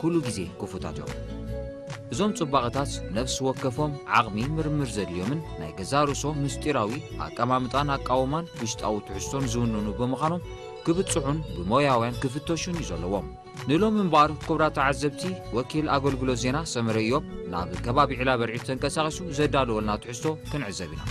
ኩሉ ግዜ ክፉታት እዮም። እዞም ጽባቐታት ነፍሲ ወከፎም ዓቕሚ ምርምር ዘድልዮምን ናይ ገዛእ ርእሶም ምስጢራዊ ኣቀማምጣን ኣቃውማን ውሽጣዊ ትሕዝቶን ዝውንኑ ብምዃኖም ክብጽሑን ብሞያውያን ክፍተሹን እዩ ዘለዎም። ንሎሚ እምበኣር ኩብራት ተዓዘብቲ ወኪል ኣገልግሎት ዜና ሰመረ ኢዮብ ናብ ከባቢ ዒላበርዒድ ተንቀሳቒሱ ዘዳለወልና ትሕዝቶ ክንዕዘብ ኢና።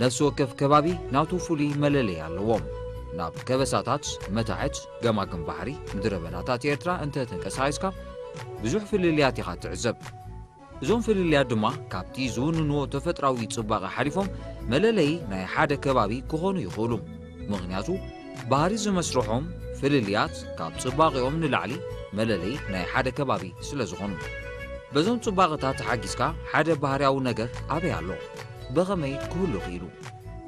ነፍሲ ወከፍ ከባቢ ናቱ ፍሉይ መለለይ ኣለዎ። ናብ ከበሳታት፣ መታሕት፣ ገማግም ባሕሪ፣ ምድረበዳታት ኤርትራ እንተ ተንቀሳቒስካ ብዙሕ ፍልልያት ኢኻ እትዕዘብ። እዞም ፍልልያት ድማ ካብቲ ዝውንንዎ ተፈጥራዊ ጽባቐ ሓሊፎም መለለዪ ናይ ሓደ ከባቢ ክኾኑ ይኽእሉ። ምኽንያቱ ባህሪ ዝመስርሖም ፍልልያት ካብ ጽባቐኦም ንላዕሊ መለለዪ ናይ ሓደ ከባቢ ስለ ዝኾኑ። በዞም ጽባቐታት ተሓጊዝካ ሓደ ባህርያዊ ነገር ኣበይ ኣሎ? ብኸመይ ክህሉ ክኢሉ?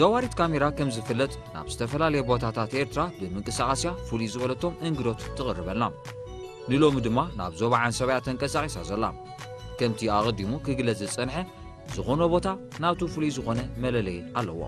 ዘዋሪት ካሜራ ከም ዝፍለጥ ናብ ዝተፈላለየ ቦታታት ኤርትራ ብምንቅስቓስያ ፍሉይ ዝበለቶም እንግዶት ትቕርበልና ንሎሚ ድማ ናብ ዞባ ዓንሰባያ ተንቀሳቒሳ ዘላ ከምቲ ኣቐዲሙ ክግለጽ ዝጸንሐ ዝኾነ ቦታ ናቱ ፍሉይ ዝኾነ መለለዪ ኣለዎ።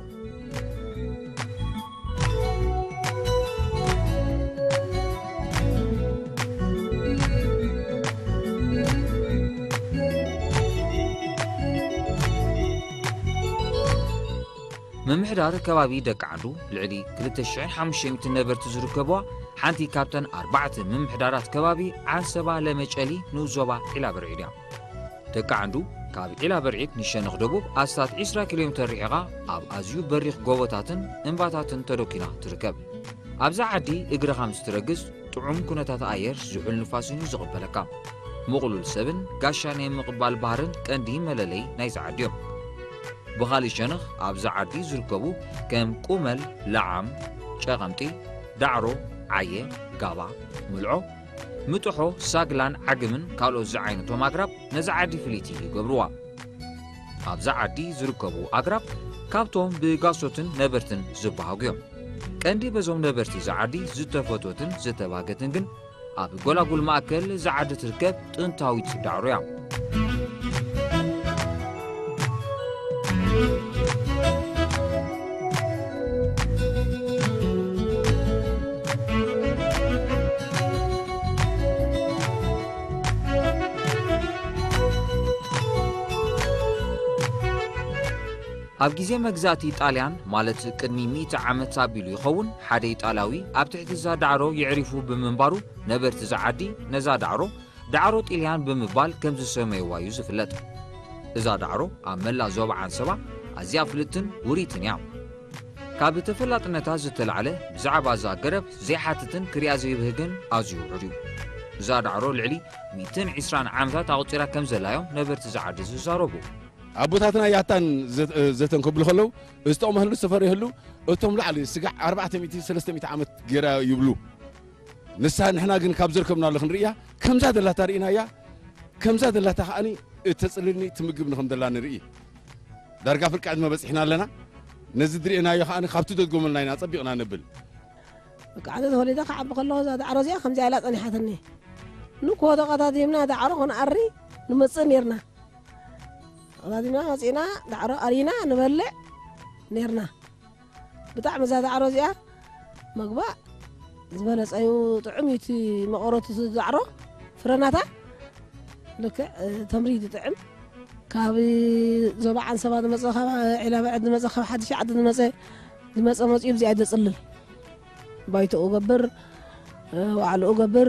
ምምሕዳር ከባቢ ደቂ ዓዱ ልዕሊ 2,500 ነበርቲ ዝርከብዋ ሓንቲ ካብተን ኣርባዕተ ምምሕዳራት ከባቢ ዓንሰባ ለመጨሊ ንኡስ ዞባ ዒላበርዒድ እያ። ተካዕንዱ ካብ ዒላ በርዒድ ንሸነኽ ደቡብ ኣስታት ዕስራ ኪሎ ሜተር ርሒቓ ኣብ ኣዝዩ በሪኽ ጎቦታትን እምባታትን ተደኲና ትርከብ። ኣብዛ ዓዲ እግርኻ ምስ ትረግጽ ጥዑም ኩነታት ኣየር ዝሑል ንፋስን'ዩ ዝቕበለካ። ምቕሉል ሰብን ጋሻ ናይ ምቕባል ባህርን ቀንዲ መለለዪ ናይዛ ዓዲ'ዮም። ብኻልእ ሸነኽ ኣብዛ ዓዲ ዝርከቡ ከም ቁመል፣ ለዓም፣ ጨቐምጢ፣ ዳዕሮ፣ ዓየ፣ ጋባ፣ ምልዖ፣ ምጥሖ፣ ሳግላን ዓግምን ካልኦት ዝዓይነቶም ኣግራብ ነዛ ዓዲ ፍልይቲ ይገብርዋ። ኣብዛ ዓዲ ዝርከቡ ኣግራብ ካብቶም ብጋሶትን ነበርትን ዝበሃጉ እዮም። ቀንዲ በዞም ነበርቲ እዛ ዓዲ ዝተፈትወትን ዝተባህገትን ግን ኣብ ጎላጉል ማእከል እዛ ዓዲ ትርከብ ጥንታዊት ዳዕሮ እያ። ኣብ ግዜ መግዛእቲ ጣልያን ማለት ቅድሚ ሚእቲ ዓመት ኣቢሉ ይኸውን ሓደ ኢጣልያዊ ኣብ ትሕቲ እዛ ዳዕሮ የዕሪፉ ብምንባሩ ነበርቲ እዛ ዓዲ ነዛ ዳዕሮ ዳዕሮ ጢልያን ብምባል ከም ዝሰመይዋ እዩ ዝፍለጥ። እዛ ዳዕሮ ኣብ መላእ ዞባ ዓንሰባ ኣዝያ ፍልጥትን ውርይትን እያ። ካብ ተፈላጥነታ ዝተላዕለ ብዛዕባ እዛ ገረብ ዘይሓትትን ክሪኣ ዘይብህግን ኣዝዩ ውሑድ እዩ። እዛ ዳዕሮ ልዕሊ ሚእትን ዒስራን ዓመታት ኣቑጺራ ከም ዘላ እዮም ነበርቲ እዛ ዓዲ ዝዛረቡ። ኣቦታትና ያታን ዘተን ክብሉ ከለው ዝተቕመህሉ ዝተፈረየህሉ እቶም ላዕሊ ስጋዕ ኣርባዕተ ሚእቲ ሰለስተ ሚእቲ ዓመት ገይራ ይብሉ። ንሳ ንሕና ግን ካብ ዘርከብናሉ ክንርእያ ከምዛ ዘላታ ርኢናያ ከምዛ ዘላታ ከዓኒ እተጽልልኒ ትምግብ ንከም ዘላ ንርኢ ዳርጋ ፍርቂ ዕድመ በጺሕና ኣለና ነዚ ድርእናዮ ከዓኒ ካብቲ ደድጎመልና ኢና ጸቢቕና ነብል ብቃዕቲ ተወሊደ ክዓቢ ከለኹ እዛ ዳዕሮ እዚኣ ከምዚኣ ኢላ ጸኒሓትኒ ንኮ ተቐታቲምና ዳዕሮ ክንኣሪ ንመጽእ ነርና ተቐታቲምና መጺእና ዳዕሮ ኣሪና ንበልዕ ነርና ብጣዕሚ እዛ ዛዕሮ እዚኣ ምግባ ዝበለጸ እዩ ጥዑም እዩ እቲ መቐረቱ እቲ ዛዕሮ ፍረናታ ልክዕ ተምሪ ዝጥዕም ካብ ዞባ ዓንሰባ ዝመፀ ካብ ዒላ በዕድ ዝመፀ ካብ ሓድሽ ዓዲ ዝመፀ ዝመፀ መፅኡ ብዚኣ ዘፅልል ባይቶኡ ገብር ዋዕልኡ ገብር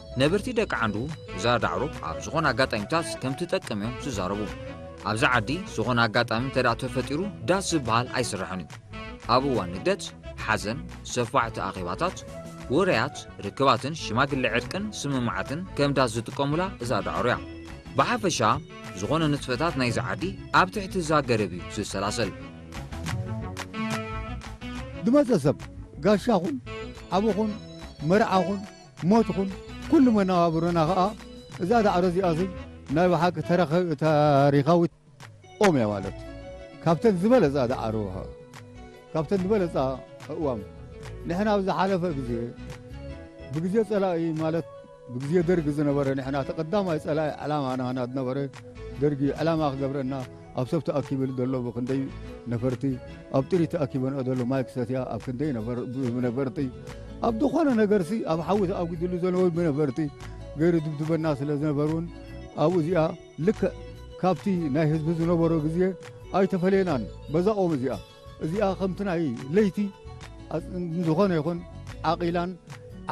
ነበርቲ ደቂ ዓንዱ እዛ ዳዕሮ ኣብ ዝኾነ ኣጋጣሚታት ከም ትጠቅም እዮም ዝዛረቡ። ኣብዚ ዓዲ ዝኾነ ኣጋጣሚ እንተደኣ ተፈጢሩ ዳስ ዝበሃል ኣይስራሕን እዩ። ኣብ እዋን ንግደት፣ ሓዘን፣ ሰፋሕቲ ኣኼባታት፣ ውራያት፣ ርክባትን ሽማግለ ዕርቅን ስምምዓትን ከም ዳስ ዝጥቀሙላ እዛ ዳዕሮ እያ። ብሓፈሻ ዝኾነ ንጥፈታት ናይዚ ዓዲ ኣብ ትሕቲ እዛ ገረብ እዩ ዝሰላሰል። ዝመጸ ሰብ ጋሻኹን ሓውኹን መርዓኹን ሞት ኹን ኩሉ መነባብሮና ኸኣ እዛ ዳዕሮ እዚኣ ሲ ናይ ብሓቂ ታሪኻዊት ኦም እያ ማለት ካብተን ዝበለጻ ዳዕሮ ካብተን ዝበለጻ እዋም ንሕና ኣብ ዝሓለፈ ግዜ ብግዜ ጸላኢ ማለት ብግዜ ደርጊ ዝነበረ ንሕና እቲ ቀዳማይ ጸላኢ ዕላማና ናዝነበረ ደርጊ ዕላማ ክገብረና ኣብ ሰብ ተኣኪብሉ ዘሎ ብክንደይ ነፈርቲ ኣብ ጥሪት ተኣኪበንኦ ዘሎ ማይ ክሰትያ ኣብ ክንደይ ብነፈርቲ ኣብ ዝኾነ ነገርሲ ኣብ ሓዊ ተኣጒድሉ ዘሎ ብነፈርቲ ገይሩ ድብድበና ስለ ዝነበሩን ኣብኡ እዚኣ ልክዕ ካብቲ ናይ ህዝቢ ዝነበሮ ግዜ ኣይተፈለየናን በዛ ኦም እዚኣ እዚኣ ከምቲ ናይ ለይቲ ዝኾነ ይኹን ዓቂላን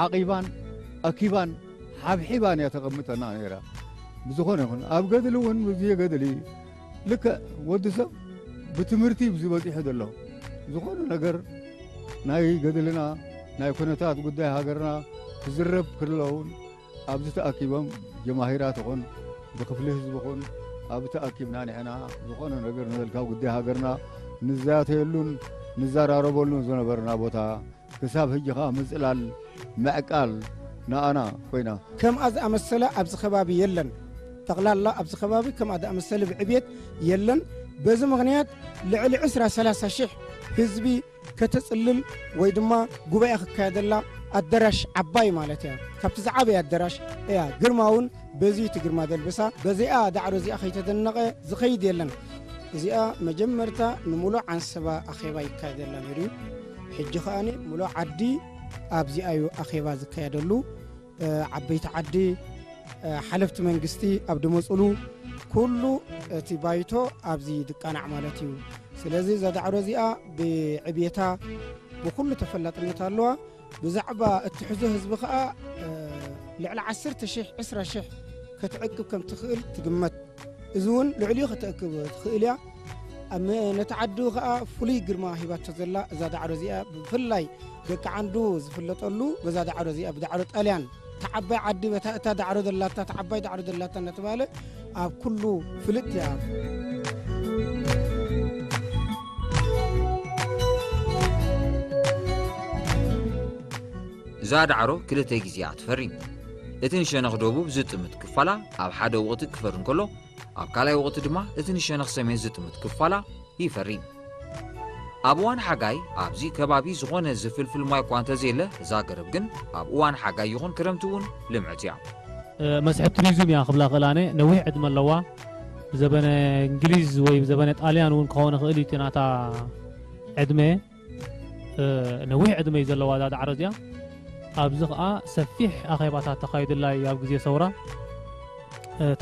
ዓቂባን ኣኪባን ሓብሒባን እያ ተቐምጠና ነይራ። ብዝኾነ ይኹን ኣብ ገድሊ እውን ብዜ ገድሊ ልክዕ ወዲ ሰብ ብትምህርቲ ብዚ በፂሑ ዘሎ ዝኾነ ነገር ናይ ገድልና ናይ ኩነታት ጉዳይ ሃገርና ክዝረብ ክለውን ኣብዚ ተኣኪቦም ጀማሂራት ይኹን ብክፍሊ ህዝቢ ይኹን ኣብ ተኣኪብና ንሕና ዝኾነ ነገር ንበልካ ጉዳይ ሃገርና ንዛተየሉን ንዘራረበሉን ዝነበርና ቦታ ክሳብ ህጂ ከኣ ምጽላል ምዕቃል ንኣና ኮይና። ከምኣ ዝኣመሰለ ኣብዚ ከባቢ የለን። ጠቕላላ ኣብዚ ከባቢ ከምኣ ዝኣመሰለ ብዕብየት የለን። በዚ ምኽንያት ልዕሊ ዕስራ ሰላሳ ሽሕ ህዝቢ ከተጽልል ወይ ድማ ጉባኤ ክካየደላ ኣደራሽ ዓባይ ማለት እያ ካብቲ ዝዓበየ ኣደራሽ እያ ግርማውን በዚ እቲ ግርማ ደልበሳ በዚኣ ዳዕሮ እዚኣ ከይተደነቐ ዝኸይድ የለን እዚኣ መጀመርታ ንምሉእ ዓንሰባ ኣኼባ ይካየደላ ነይሩ እዩ ሕጂ ከኣ ምሉእ ዓዲ ኣብዚኣዩ ኣኼባ ዝካየደሉ ዓበይቲ ዓዲ ሓለፍቲ መንግስቲ ኣብ ድመፁሉ ኩሉ እቲ ባይቶ ኣብዚ ድቃናዕ ማለት እዩ ስለዚ እዛ ዳዕሮ እዚኣ ብዕብየታ ብኩሉ ተፈላጥነት ኣለዋ ብዛዕባ እትሕዞ ህዝቢ ከዓ ልዕሊ 1 ሽ 2ስራ ሽሕ ከትዕቅብ ከም ትኽእል ትግመት እዚ እውን ልዕሊኡ ከተእክብ ትኽእል እያ ነቲ ዓዱ ከዓ ፍሉይ ግርማ ሂባቶ ዘላ እዛ ዳዕሮ እዚኣ ብፍላይ ደቂ ዓንዱ ዝፍለጠሉ በዛ ዳዕሮ እዚኣ ብዳዕሮ ጣልያን ተዓባይ ዓዲ በታ እታ ዳዕሮ ዘላታ ተዓባይ ዳዕሮ ዘላታ እናተባሃለ ኣብ ኩሉ ፍልጥ እያ እዛ ዳዕሮ ክልተ ግዜ እያ ትፈሪ እቲ ንሸነኽ ደቡብ ዝጥምት ክፋላ ኣብ ሓደ ወቕቲ ክፈሪ እንከሎ ኣብ ካልኣይ ወቕቲ ድማ እቲ ንሸነኽ ሰሜን ዝጥምት ክፋላ ይፈሪ። ኣብ እዋን ሓጋይ ኣብዚ ከባቢ ዝኾነ ዝፍልፍል ማይ እኳ እንተዘየለ እዛ ገረብ ግን ኣብ እዋን ሓጋይ ይኹን ክረምቲ እውን ልምዕቲ እያ። መስሕብ ቱሪዝም እያ ክብላ እኽእል ኣነ። ነዊሕ ዕድመ ኣለዋ። ብዘበነ እንግሊዝ ወይ ብዘበነ ጣልያን እውን ክኸውን ይኽእል እዩ እቲ ናታ ዕድመ። ነዊሕ ዕድመ እዩ ዘለዋ እዛ ዳዕሮ እዚኣ ኣብዚ ከዓ ሰፊሕ ኣኼባታት ተኻይዱላ እዩ ኣብ ግዜ ሰውራ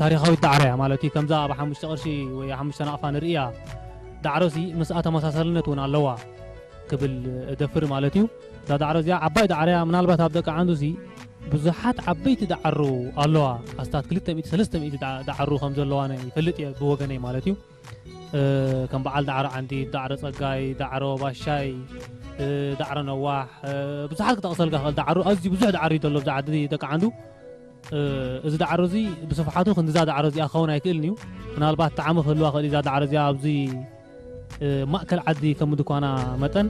ታሪኻዊት ዳዕሮ እያ ማለት እዩ ከምዛ ኣብ ሓሙሽተ ቅርሺ ወይ ሓሙሽተ ናቕፋ ንርእያ ዳዕሮ ሲ ምስኣ ተመሳሳልነት እውን ኣለዋ ክብል እደፍር ማለት እዩ እዛ ዳዕሮ እዚኣ ዓባይ ዳዕሮ እያ ምናልባት ኣብ ደቂ ዓንዱ ሲ ብዙሓት ዓበይቲ ዳዕሩ ኣለዋ ኣስታት 200 300 ዳዕሩ ከም ዘለዋ ይፈልጥ እየ ብወገነይ ማለት እዩ ከም በዓል ዳዕሮ ዓንዲት፣ ዳዕሮ ጸጋይ፣ ዳዕሮ ባሻይ፣ ዳዕሮ ነዋሕ ብዙሓት ክጠቕሰልካ ክእል ዳዕሮ ኣዝዩ ብዙሕ ዳዕሮ እዩ ዘሎ ኣብዛ ዓዲ ደቂ ዓንዱ እዚ ዳዕሮ እዚ ብስፍሓቱ ክንዲዛ ዳዕሮ እዚኣ ክኸውን ኣይክእልን እዩ ምናልባት ጣዕሚ ክህልዋ ክእል እዛ ዳዕሮ እዚኣ ኣብዚ ማእከል ዓዲ ከም ምድኳና መጠን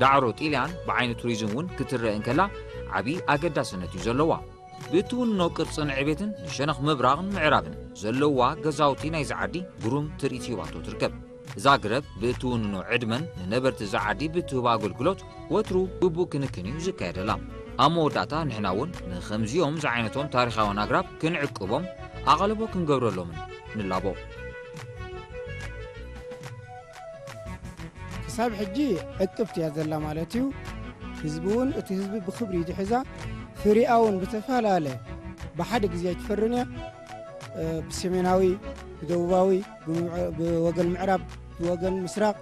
ዳዕሮ ጢልያን ብዓይኒ ቱሪዝም እውን ክትረእ እንከላ ዓብዪ ኣገዳስነት እዩ ዘለዋ። ብእትውንኖ ቅርፅን ዕቤትን ንሸነኽ ምብራቕን ምዕራብን ዘለዋ ገዛውቲ ናይዚ ዓዲ ግሩም ትርኢት ሂባቶ ትርከብ። እዛ ግረብ ብእትውንኖ ዕድመን ንነበርቲ እዛ ዓዲ ብእትህቦ ኣገልግሎት ወትሩ ግቡእ ክንክን እዩ ዝካየደላ። ኣብ መወዳእታ ንሕና እውን ንኸምዚኦም ዝዓይነቶም ታሪኻውያን ኣግራብ ክንዕቅቦም ኣቓልቦ ክንገብረሎምን ንላቦ። ክሳብ ሕጂ ዕቅብቲ እያ ዘላ ማለት እዩ ህዝቢ እውን እቲ ህዝቢ ብክብሪ ድሕዛ ፍሪኣ እውን ብተፈላለ ብሓደ ግዜ ኣይትፈርን እያ ብሰሜናዊ ብደቡባዊ ብወገን ምዕራብ ብወገን ምስራቅ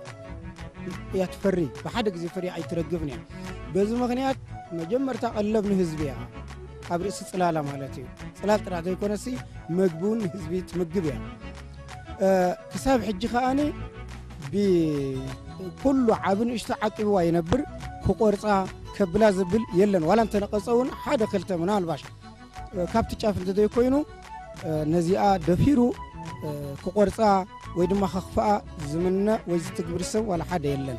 እያ ትፈሪ ብሓደ ግዜ ፍሪ ኣይትረግብን እያ በዚ ምክንያት መጀመርታ ቀለብ ንህዝቢ እያ ኣብ ርእሲ ፅላላ ማለት እዩ ፅላል ጥራሕ ዘይኮነሲ መግቢ እውን ንህዝቢ ትምግብ እያ ክሳብ ሕጂ ከኣኒ ብኩሉ ዓብ ንእሽቶ ዓቂብዋ ይነብር ክቆርፃ ከብላ ዝብል የለን ዋላ እንተነቐፀ እውን ሓደ ክልተ ምናልባሽ ካብቲ ጫፍ እንተዘይኮይኑ ነዚኣ ደፊሩ ክቆርፃ ወይ ድማ ከኽፍኣ ዝምነ ወይ ዝትግብር ሰብ ዋላ ሓደ የለን